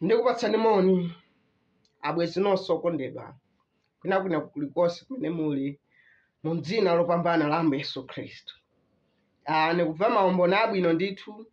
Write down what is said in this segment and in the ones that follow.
ndikupatsani moni abwezi nonse okondedwa kwinakwina kulikonse kumene muli mu dzina lopambana la ambuye yesu khristu ah, ndikumva maumboni abwino ndithu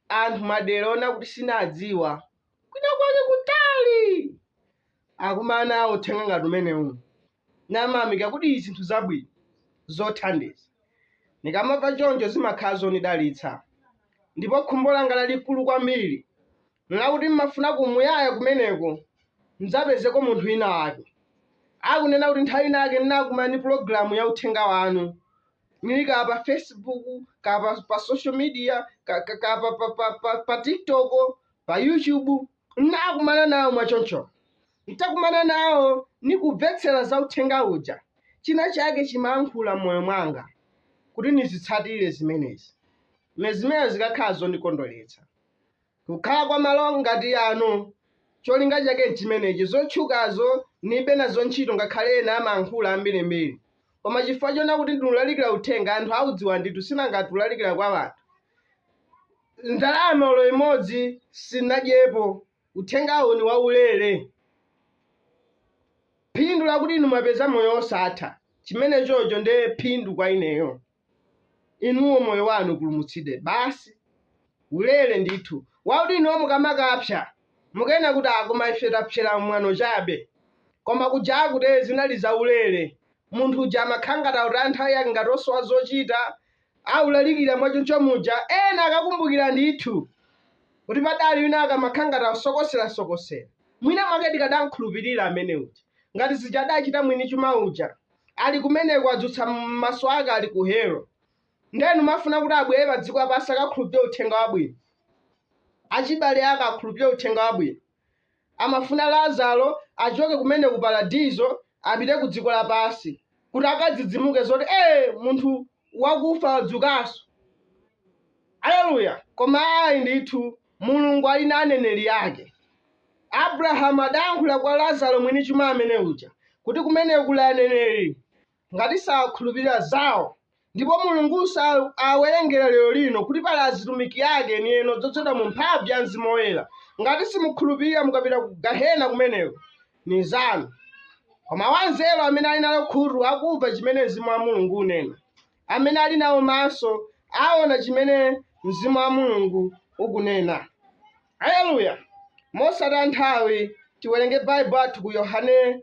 anthu madera ona kuti sinadziwa kwina kwake kutali akumana nawo uthenga ngati umenewu namamika kuti zinthu zabwino zothandiza ndikamamva choncho zimakhala zondidalitsa ndipo khumbo langa lalikulu kwambiri nlakuti mmafuna ku muyaya kumeneko ndidzapezeko munthu wina wake akunena kuti nthawi inake ndinakumana ndi pulogalamu ya uthenga wanu nili ka pa facebook ka pa, pa social media ka, ka, ka pa, pa, pa, pa, pa tiktok pa YouTube n'nakumana nawo mwaconco. N'takumana nawo nikumvetsela za uthenga uja, cina cake cimayankhula m'moyo mwanga kuti nizitsatile zimenezi. Ni zimene zikakhala zondikondweletsa. Kukhala kwa malo ngati ano colinga cake n'cimeneci. Zotchukazo nibe nazo nchito ngakhale ena amayankhula ambili-mbili. Koma cifukwa coona kuti ndinulalikila uthenga, anthu audziwa ndithu sinangati ulalikila kwa anthu. Ndalama olo imodzi sinadyepo. Uthengawu ni waulele. Phindu lakuti inu mwapeza moyo wosatha, chimenechocho nde phindu kwa ineyo. Inuwo moyo wanu upulumutsidwe basi. Ulele ndithu. Wakuti inuwo mukamakapsya, mukanena kuti ah koma ife tapsyela mwano chabe. Koma kuja akute zinali zaulele. Munthu uja amakhala ngati autaya nthawi yake ngati osowa zochita, aulalikira mwachoncho muja ena akakumbukira ndithu kuti padali wina ankamakhala ngati akusokoserasokosera mwina mwake tikadamkhulupirira amene uja ngati zija adachita mwini chuma uja ali kumeneko adzutsa maso ake ali ku helo nde n'kumafuna kuti abwere padziko lapansi akakhulupirire uthenga wabwino achibale ake akhulupirire uthenga wabwino Amafuna Lazaro achoke kumene ku Paradiso apite ku dziko lapansi kuti akadzidzimuke zoti ee munthu wakufa wadzukanso. Aleluya! Koma ayi ndithu, Mulungu ali na aneneli ake. Abulahamu adayankhula kwa Lazaro mwini chuma amene uja kuti kumeneko kuli aneneli. ngati sakhulupirira zawo ndipo mulungu sawawerengera lero lino kuti pali azitumiki ake enieni odzozedwa mu mphamvu ya mzimu woyera ngati simukhulupirira mukapita ku gahena kumeneko ni zanu koma wanzeru amene ali nalo khutu akumva chimene mzimu wa mulungu unena amene ali nawo maso aona chimene mzimu wa mulungu ukunena haleluya mosataya nthawi tiwerenge baibulo athu ku yohane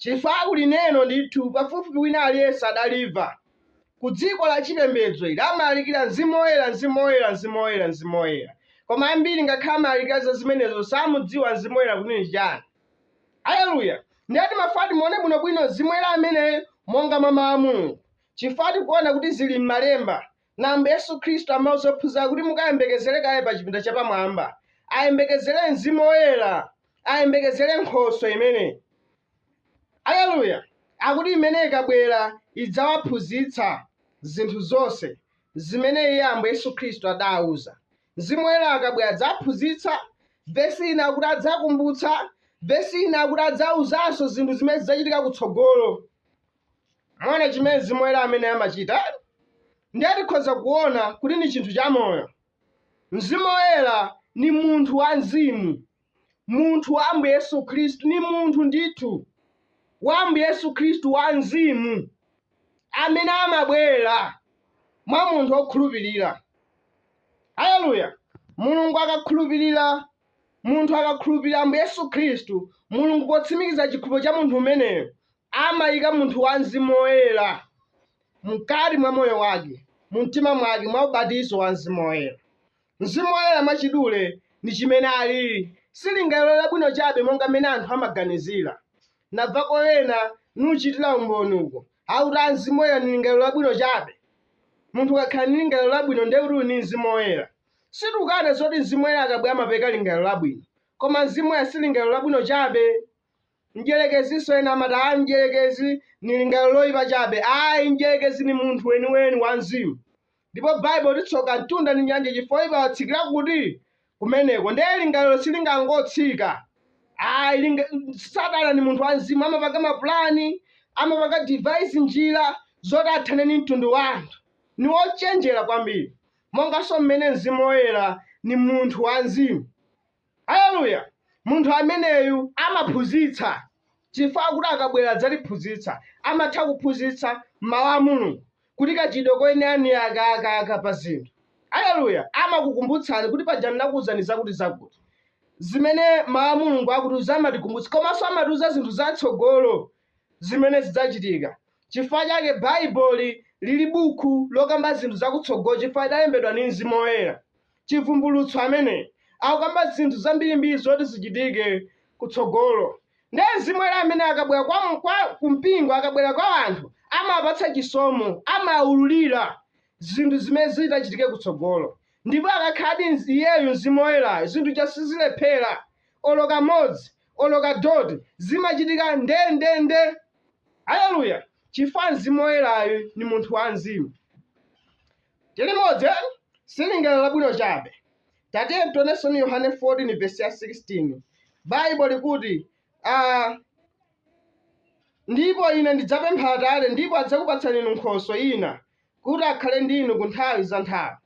Chifukwa ku lineno ndithu pafupifupi wina aliyense adalimva, ku dziko la chipembedzo ili, amalalikira Mzimu Woyera, Mzimu Woyera, Mzimu Woyera, Mzimu Woyera, koma ambiri ngakhale amalalikira za zimenezo samudziwa Mzimu Woyera kuti ni chiyani. Aleluya! Ndiye timafuna timuone bwinobwino Mzimu Woyera ameneyo monga mwa Mau a Mulungu, chifukwa tikuona kuti zili m'Malemba, Na Ambuye Yesu Khristu amauza ophunzira kuti, Mukayembekezere kaye pa chipinda chapamwamba. Ayembekezere mzimu woyera. Ayembekezere Nkhoswe imene, aleluya, akuti imene ikabwera idzawaphunzitsa zinthu zonse zimene Iye Ambuye Yesu Khristu adawauza. Mzimu woyera akabwera adzaphunzitsa, vesi ina akuti adzakumbutsa, vesi ina akuti adzawuzanso zinthu zimene zidzachitika kutsogolo. Mwaona chimene Mzimu Woyera amene amachita? Ndiye tikhoza kuona kuti ni chinthu chamoyo. Mzimu Woyera ni munthu wa mzimu. Munthu wa Ambuye Yesu Khristu ni munthu ndithu wa Ambuye Yesu Khristu wa mzimu amene amabwera mwa munthu wokhulupirira. Haleluya! Mulungu akakhulupirira munthu akakhulupirira Ambuye Yesu Khristu, Mulungu potsimikiza chikhulupiriro cha munthu umeneyo amaika munthu wa Mzimu Woyera mkati mwa moyo wake, mu mtima mwake, mwa ubatizo wa Mzimu Woyera. Mzimu Woyera mwachidule ndi chimene alili, si lingaliro labwino chabe monga mmene anthu amaganizira. Namvako ena nuchitira umboni uko, akuti a Mzimu Woyera ni lingaliro labwino chabe. Munthu ukakhala ni lingaliro labwino ndiye kuti uli ni Mzimu Woyera. Sitikukana zoti Mzimu Woyera akabwera amapereka lingaliro labwino, koma Mzimu Woyera si lingaliro labwino chabe. Mdyelekezinso ena amati, Ayi, Mdyelekezi ni lingalilo loipa cabe. Ayi, Mdyelekezi ni munthu weni-weni wamzimu. Ndipo Baibulo iti tsoka mtunda ni nyanja cifukwa woipa atsikila kuti? Kumeneko. Ndiye lingalilo silingangotsika ayi. Linga, Satana ni munthu wamzimu. Amapanga mapulani, amapanga devise njila zoti athane ndi mtundu wa anthu. Ni wocenjela kwambili, monganso mmene mzimu woyela ni munthu wamzimu. Aleluya! Munthu ameneyu amaphunzitsa chifukwa kuti akabwera adzatiphunzitsa. Amatha kuphunzitsa Mawu a Mulungu kuti kachitidwe koyenera ni aka, aka, aka pa zinthu. Aleluya! Amakukumbutsani kuti paja ndinakuwuzani zakutizakuti. Zimene Mawu a Mulungu akutiwuza amatikumbutsa komanso amatiwuza zinthu za tsogolo zimene zidzachitika. Chifukwa chake Baibulo lili buku lokamba zinthu za kutsogolo chifukwa lidalembedwa ndi Mzimu Woyera. Chivumbulutso amene akukamba zinthu zambirimbiri zoti zichitike kutsogolo. Nde mzimu woyera amene akabwera kwa, kwa ku mpingo akabwera kwa anthu amawapatsa chisomo, amaululira zinthu zimene zitachitike kutsogolo. Ndipo akakhaladi mz- iyeyu mzimu woyerayo zinthu ja sizilephera olo kamodzi olo kadoti zimachitika ndendende aleluya chifukwa mzimu woyerayu ni munthu wa mzimu Tili limodzi eni? Silingaliro labwino chabe. Tatiyeni tionenso ni Yohane 14 vesi ya 16. Baibulo likuti, a Ndipo ine ndidzapempha Atate, ndipo adzakupatsani inu Nkhoswe yina, kuti akhale ndi inu ku nthawi za nthawi.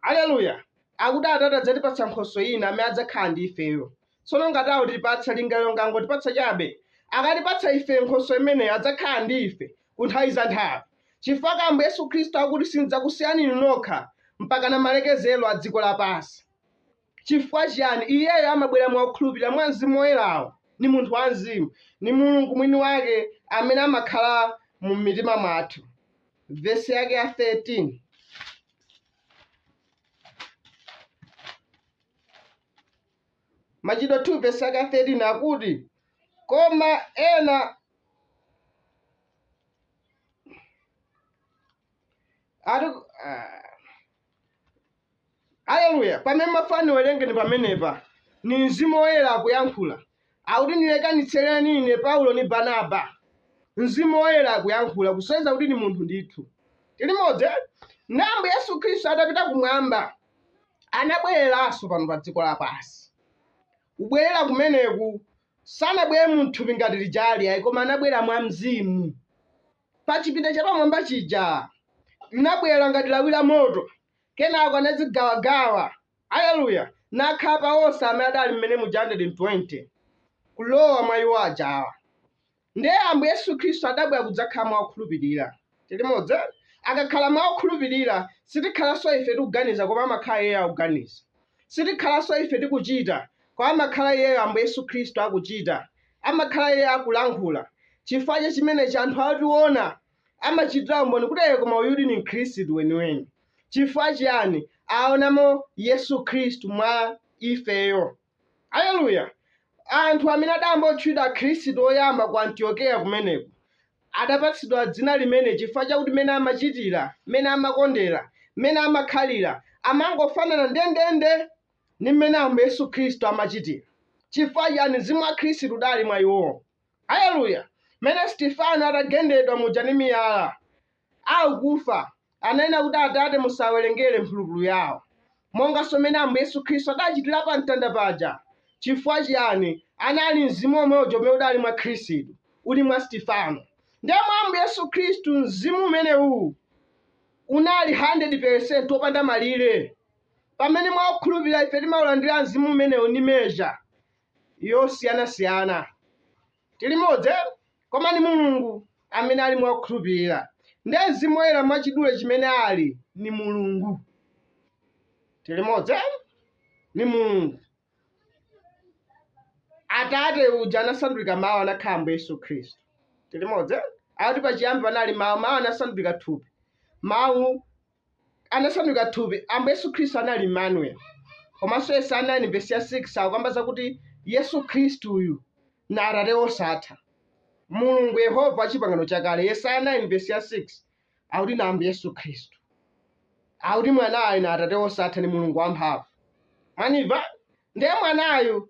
Aleluya! Akuti Atate adzatipatsa Nkhoswe yina amene adzakhala ndi ifeyo. tsono ngati akutipatsa lingaliro ngangotipatsa chabe akatipatsa ife nkhoswe imeneyo adzakhala ndi ife ku nthawi za nthawi chifukwa ambuye yesu khristu akuti sindidzakusiyani inu nokha mpaka na malekezero a dziko lapansi chifukwa chiyani iyeyo amabwera mwa okhulupirira mwa mzimu woyerawo ni munthu wa mzimu ni mulungu mwini wake amene amakhala mu mitima mwathu vesi yake ya 13 Machitidwe 2 vesi yake ya 13 akuti, Koma ena ati ah, aleluya pamene mafani werengeni pamenepa ni mzimu woyera akuyankhula akuti ndilekanitsereni ine paulo ni barnaba mzimu woyera akuyankhula kusonyeza kuti ni munthu ndithu tili limodzi ambuye yesu khristu atapita kumwamba anabwereranso pano pa dziko lapansi. Kubwerera kumeneku sanabwere mu thupi ngati lijali ayi, koma anabwera mwa mzimu. Pa chipinda chapamwamba chija linabwera ngati lawi la moto, kenako anadzigawagawa, aleluya, nakhala pa onse amene adali mmene muja 120 kulowa mwa iwo ajawa. Ndiye Ambuye Yesu Khristu adabwera kudzakhala mwa okhulupirira. Tili limodzi? Akakhala mwa okhulupirira, sitikhalanso ife tikuganiza koma amakhala Iyeyo akuganiza. Sitikhalanso ife tikuchita, koma amakhala Iyeyo Ambuye Yesu Khristu akuchita. Amakhala Iyeyo akulankhula. Chifukwa cha chimenechi anthu otiona amachitira umboni kuti ee koma uyudi ndi mkhristu weniweni. Chifukwa chiyani? Aonamo Yesu Khristu mwa ifeyo. Aleluya! Anthu amene adayamba kutchedwa Akhristu oyamba ku Antiokeya kumeneko, adapatsidwa dzina limeneli chifukwa chakuti mmene amachitira, mmene amakondera, mmene amakhalira, amangofanana ndendende ndi mmene Ambuye Yesu Khristu amachitira. Chifukwa chiyani? Mzimu wa Khristu udali mwa iwowo. Aleluya! Mmene Stefano adagendedwa muja ndi miyala, akufa, ananena kuti, Atate, musawerengere mphulupulu yawo. Monganso mmene Ambuye Yesu Khristu adachitira pa mtanda paja. Chifukwa chiyani? Anali Mzimu womwe uja umene udali mwa Khristu, uli mwa Stefano. Ndiye mwa Ambuye Yesu Khristu, Mzimu umenewu unali 100% wopanda malire. Pamene mwa okhulupirira ife timaulandira Mzimu umenewu ndi measure, yosiyanasiyana. Tili limodzi eh? Koma ni Mulungu amene ali mwa okhulupirira. Ndiye Mzimu Woyera mwachidule chimene ali ni Mulungu. Tili limodzi eh? Ni Mulungu. Atate uja anasandulika mawu anakhala Ambuye Yesu Khristu. Tili limodzi eh? Akuti pachiyambi panali mawu, mawu anasandulika thupi. Mawu anasanduka thupi, Ambuye Yesu Khristu anali Emmanuel. Komanso Yesaya 9 vesi ya 6 akukamba zakuti Yesu Khristu uyu na Atate wosatha. Mulungu Yehova wa chipangano chakale, Yesaya 9 vesi ya 6 akuti na Ambuye Yesu Khristu. Akuti mwanayu na Atate wosatha ni Mulungu wamphamvu. Mwandimva? Ndiye mwanayu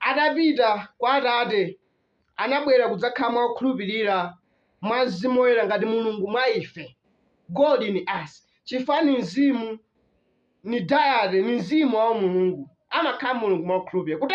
atapita kwa Atate anabwera kudzakhala mwa okhulupirira, mwa Mzimu Woyera, ngati Mulungu mwa ife. God in us. Chifukwa ni Mzimu, ni Deity, ni Mzimu wa Umulungu. Amakhala Mulungu mwa okhulupirira. Kuti